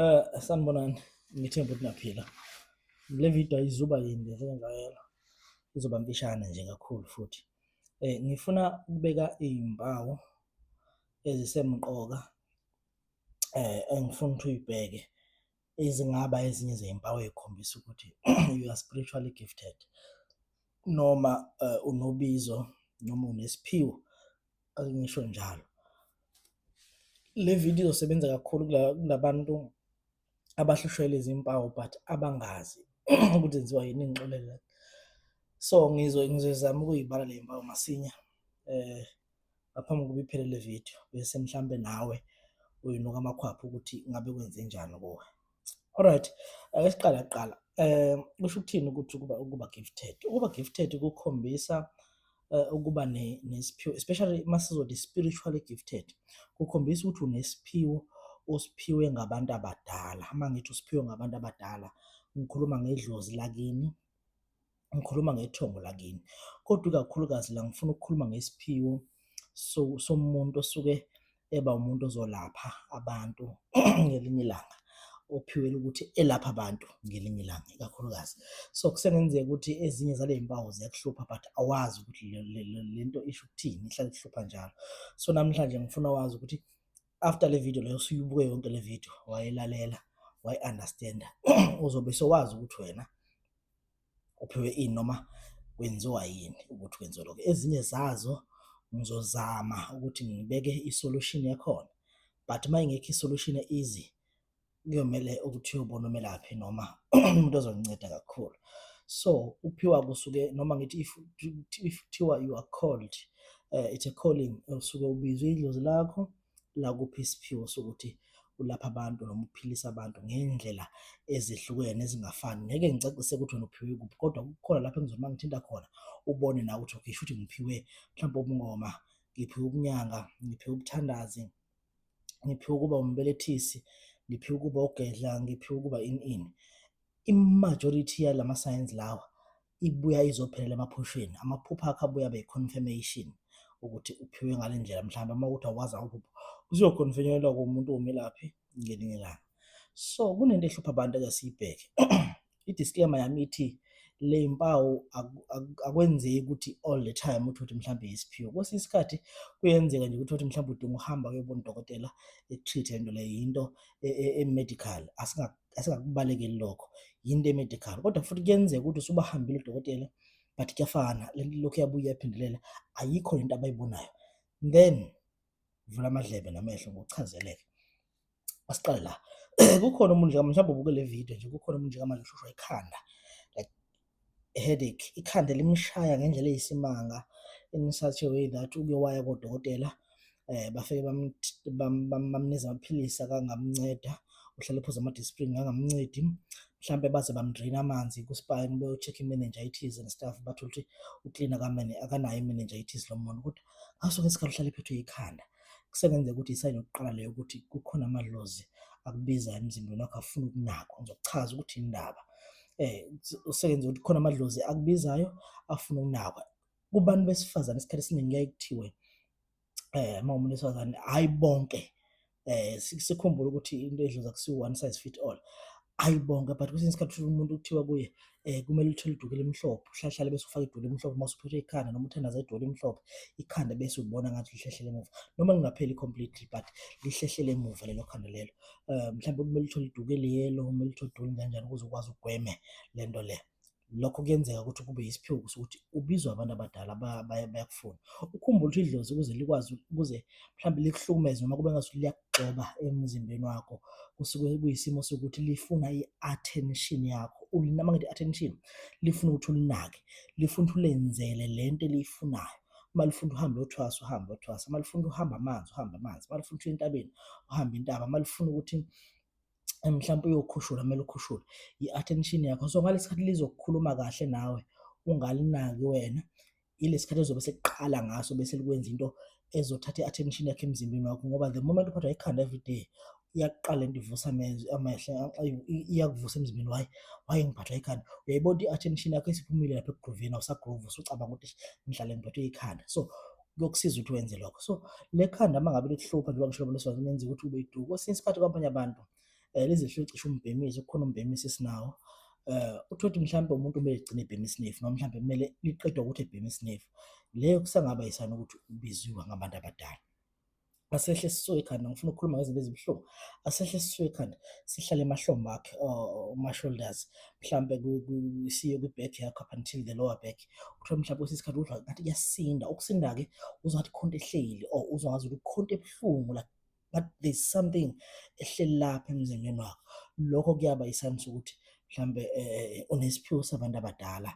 Eh sanibonani ngithemba ukuthi naphila. Le video ayizuba yinde njengayela. Izoba mpishana nje kakhulu futhi. Eh ngifuna ukubeka izimpawu ezisemqoka eh engifuna ukuthi uyibheke ezingaba ezinye zezimpawu ezikhombisa ukuthi you are spiritually gifted. noma uh, unobizo noma unesiphiwo akungisho njalo le video izosebenza kakhulu kulabantu abahlushwele izimpawu but abangazi ukuthi zenziwa yini ingxolela so ngizo ngizozama ukuyibala le mpawu masinya eh ngaphambi kokuba iphele le video bese mhlampe nawe uyinuka amakhwapha ukuthi ngabe kwenze njani kuwe alright ake siqale kuqala um kusho ukuthini ukuthi ukuba ukuba gifted ukuba gifted kukhombisa eh, ukuba nesiphiwo especially masizodi spiritually gifted kukhombisa ukuthi unesiphiwo osiphiwe ngabantu abadala uma ngithi usiphiwe ngabantu abadala ngikhuluma ngedlozi lakini ngikhuluma ngethongo lakini kodwa ikakhulukazi la ngifuna ukukhuluma ngesiphiwo somuntu osuke eba umuntu ozolapha abantu ngelinye ilanga ophiwele ukuthi elapha abantu ngelinye ilanga ikakhulukazi so kusengenzeka ukuthi ezinye zale mpawu ziyakuhlupha but awazi ukuthi le nto isho ukuthini ihlale kuhlupha njalo so namhlanje ngifuna wazi ukuthi after le video leyo usuyibuke yonke le video wayelalela wayi-understanda uzobe sowazi ukuthi wena uphiwe ini noma kwenziwa yini ukuthi kwenziwe lokho ezinye zazo ngizozama ukuthi ngibeke isolution yakhona but uma ingekho isolution easy kuyomele ukuthi uyobona umelaphi noma umuntu ozonginceda kakhulu so ukuphiwa kusuke noma ngithi if if kuthiwa you are called uh, it's a calling usuke ubizwe idlozi lakho la kuphi isiphiwo sokuthi ulapha abantu noma uphilisa abantu ngey'ndlela ezehlukene ezingafani. Ngeke ngicacise ukuthi wena uphiwe kuphi kodwa kukhona lapho engizona uma ngithinta khona ubone nawe ukuthi okay shuthi ngiphiwe mhlawumpe ubungoma, ngiphiwe ubunyanga, ngiphiwe ubuthandazi, ngiphiwe ukuba umbelethisi, ngiphiwe ukuba ugedla, ngiphiwe ukuba ini ini. I-majority yalamasayensi lawa ibuya izophelela emaphusheni amaphupho akho abuya abe confirmation ukuthi uphiwe ngale ndlela mhlawumbe uma ukuthi awazi awuphupho uzoconfirmelwa kumuntu womelaphi ngelinye ilanga so kunento ehlupha abantu ake siyibheke i-disclaimer yami ithi le mpawu akwenzeki ukuthi all the time uthi uthi mhlawumbe yisiphiwo kwesinye isikhathi kuyenzeka nje ukuthi uthi mhlawumbe udinga uhamba kuyobona udokotela e-treat-e le nto leyo yinto e-medical e, e, asingakubalekeli lokho yinto emedical kodwa futhi kuyenzeka ukuthi usubahambile udokotela but kuyafana lento lokhu yabuya yaphindelela ayikho lento abayibonayo then vula amadlebe namehlo ngokuchazeleke asiqale la kukhona umuntu njengamanje mhlawumbe ubuke le video nje kukhona umuntu njengamanje ushushwa ikhanda like headache ikhanda elimshaya ngendlela eyisimanga enisathe way that uke waya kodokotela eh bafike bamniza amaphilisi akangamnceda uhlale phuza ama-disprin angamncedi mhlampe baze bamdraina amanzi kuspine beyocheck i-meningitis and stuff bathole ukuthi uklina kamene akanayo i-meningitis lo muntu ukuthi ngaso ke isikhathi uhlale phethwe yikhanda kusebenzeka ukuthi isayini yokuqala leyo ukuthi kukhona amadlozi akubizayo emzimbeni wakho afuna ukunakwa ngizokuchaza ukuthi indaba eh usebenza ukuthi khona amadlozi akubizayo afuna ukunakwa kubantu besifazane isikhathi esiningi kuyaye kuthiwe eh uma umuntu wesifazane hayi bonke eh sikhumbula ukuthi into edloza kusiwu one size fit all hayi bonke but kwesinye isikhathi ushula umuntu kuthiwa kuye um kumele uthole iduku elimhlophe uhlahlale bese ufake iduku elimhlophe uma usuphethwe ikhanda noma uthandaza iduku elimhlophe ikhanda bese ubona ngathi lihlehlele emuva noma lingapheli completely but lihlehlele emuva lelo khanda lelo um mhlawumbe kumele uthole iduku eliyelo kumele uthole iduku elinjanjani ukuze ukwazi ugweme le nto le lokho kuyenzeka ukuthi kube yisiphiwo sokuthi ubizwa abantu abadala bayakufuna ukhumbula ukuthi idlozi ukuze likwazi ukuze mhlawumbe likuhlukumeze noma kube ngathi liyakugxoba emzimbeni wakho kusuke kuyisimo sokuthi lifuna i-attention yakho ulinama ngithi attention lifuna ukuthi ulinake lifuna ukuthi ulenzele le nto eliyifunayo uma lifuna uhambe uthwasa uhambe uthwasa uma lifuna uhamba amanzi uhamba amanzi uma lifuna ukuthi entabeni uhamba intaba uma lifuna ukuthi eh, mhlawumbe uyokhushula kumele ukhushule i-attention yakho so ngalesi sikhathi lizokukhuluma kahle nawe ungalinaki wena ilesi sikhathi ezobe sekuqala ngaso bese likwenza into ezothatha i-attention yakhe emzimbeni wakho ngoba the moment uphathwa ikhanda every day iyakuqala into ivusa amehlo iyakuvusa emzimbeni waye waye ngiphathwa ikhanda uyayibona i-attention yakho isiphumile lapha ekugroveni awusagrovi usucabanga ukuthi ngihlale ngiphethwe ikhanda so kuyokusiza ukuthi wenze lokho so le khanda uma ngabe likuhlupha njengoba ngisho lomleswazi lenza ukuthi ube iduku kwesinye isikhathi kwabanye abantu um eh, lizihlule cishe umbhemisi kukhona umbhemisi esinawo eh uthi uthi mhlawumbe umuntu kumele egcine ebhema isinefu noma mhlawumbe kumele liqedwe ukuthi ebhema isinefu leyo kusangaba yisana ukuthi ubiziwe ngabantu abadala asehle esisuke ekhanda ngifuna ukukhuluma ngezinto ezibuhlungu asehle esisuke ekhanda sihlale emahlombe akhe oh, ma-shoulders mhlawumbe siye kwi-back yakho up until the lower back kuthiwa mhlawumbe kwesinye isikhathi uzwa ngathi kuyasinda ukusinda-ke uzwa ngathi khonto ehleli or oh, uzwa ngathi ukuthi khonto ebuhlungu like but there's something ehleli lapha emzimbeni wakho lokho kuyaba isayini sokuthi mhlawumbe um unesiphiwo sabantu abadala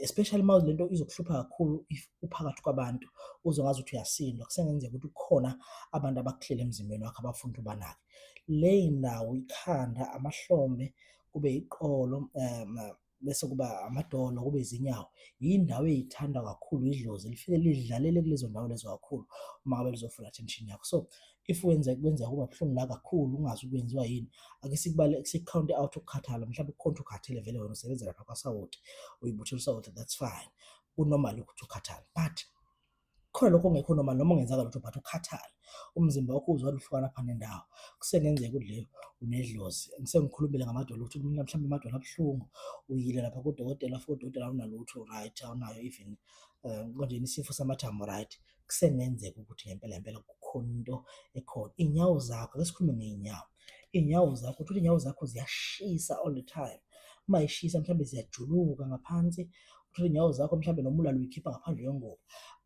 especially uma lento izokuhlupha kakhulu if uphakathi kwabantu uzongazi ukuthi uyasindwa kusengenzeka ukuthi kukhona abantu abakuhlele emzimbeni wakho abafuna ukuthi ubanake le ndawo ikhanda amahlombe kube iqolo um bese kuba amadolo kube izinyawo yindawo eyithanda kakhulu idlozi lifike lidlalele kulezo ndawo lezo kakhulu uma ngabe lizofuna attention yakho so if wenza kwenzeka kuba buhlungu la kakhulu ungazi ukwenziwa yini ake sikubale sikukhawunte out ukukhathala mhlawumbe ukhonto ukhathele vele wena usebenza lapha kwasawoti uyibuthela usawoti that's fine kunormal ukuthi ukhathale but khona lokho ongekho normal noma ungenzaka lutho but ukhathale umzimba wakho uzwa luhlukana phana nendawo kusengenzeka ukuthi leyo unedlozi ngisengikhulumile ngamadolo ukuthi mina mhlawumbe amadolo abuhlungu uyile lapha kudokotela futhi udokotela awunalutho right awunayo even um konje isifo samathambo right kusengenzeka ukuthi ngempela ngempela kukhona into ekhona. Iy'nyawo zakho, ake sikhulume ngey'nyawo. Iy'nyawo zakho, uthole iy'nyawo zakho ziyashisa all the time. Uma yishisa mhlawumbe ziyajuluka ngaphansi, uthole iy'nyawo zakho mhlawumbe noma ulala uyikhipha ngaphandle kwengubo.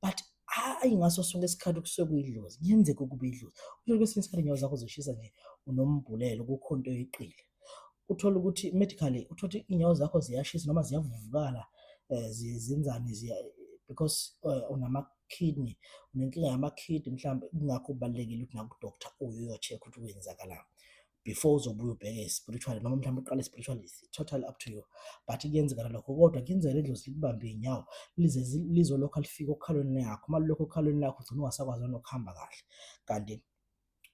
But hhayi ngaso sonke isikhathi kusuke kuyidlozi, kuyenzeka ukuba idlozi. Uthole kwesinye isikhathi iy'nyawo zakho zishisa nje unombhulelo, kukhona into oyeqile. uthole ukuthi medically uthole ukuthi inyawo zakho ziyashisa noma ziyavuvukala eh, zenzani ziya because eh, unama kidney unenkinga yama kidney mhlawumbe kungakho kubalekile ukuthi naku doctor uyo yo check ukuthi kwenzakalani before uzobuya ubheke spiritual noma mhlawumbe uqale spiritual is total up to you but kuyenzeka lokho kodwa kuyenzeka ledlozi likubambe inyawo lize lizolokhu alifika okhalweni lakho uma lokho okhalweni lakho ugcina ungasakwazi nokuhamba kahle kanti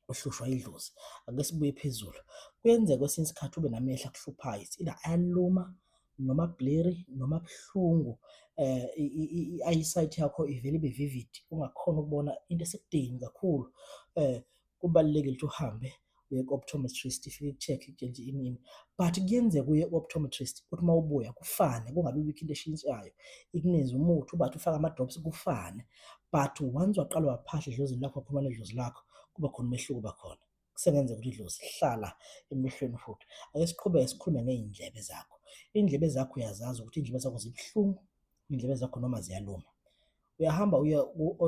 ohlushwa idlozi. Ake sibuye phezulu. Kuyenzeka kwesinye isikhathi ube namehlo akuhluphayo. It's either ayaluma noma blurry noma buhlungu eh i-eyesight yakho ivele ibe vivid ungakhona ukubona into esekudeni kakhulu eh kubalulekile ukuthi uhambe uye ku-optometrist ifike ikucheck itshentshe inini but kuyenzeka uye ku-optometrist ukuthi uma ubuya kufane kungabi bikho into eshintshayo ikuneze umuthi ubathi ufake ama-drops kufane but once waqala waphahla edlozini lakho waphuma nedlozi lakho kuba khona umehluko bakhona kusengenzeka ukuthi idlozi hlala emehlweni futhi ake siqhubeke sikhulume ngey'ndlebe zakho iy'ndlebe zakho uyazazi ukuthi iy'ndlebe zakho zibuhlungu iy'ndlebe zakho noma ziyaluma uyahamba uye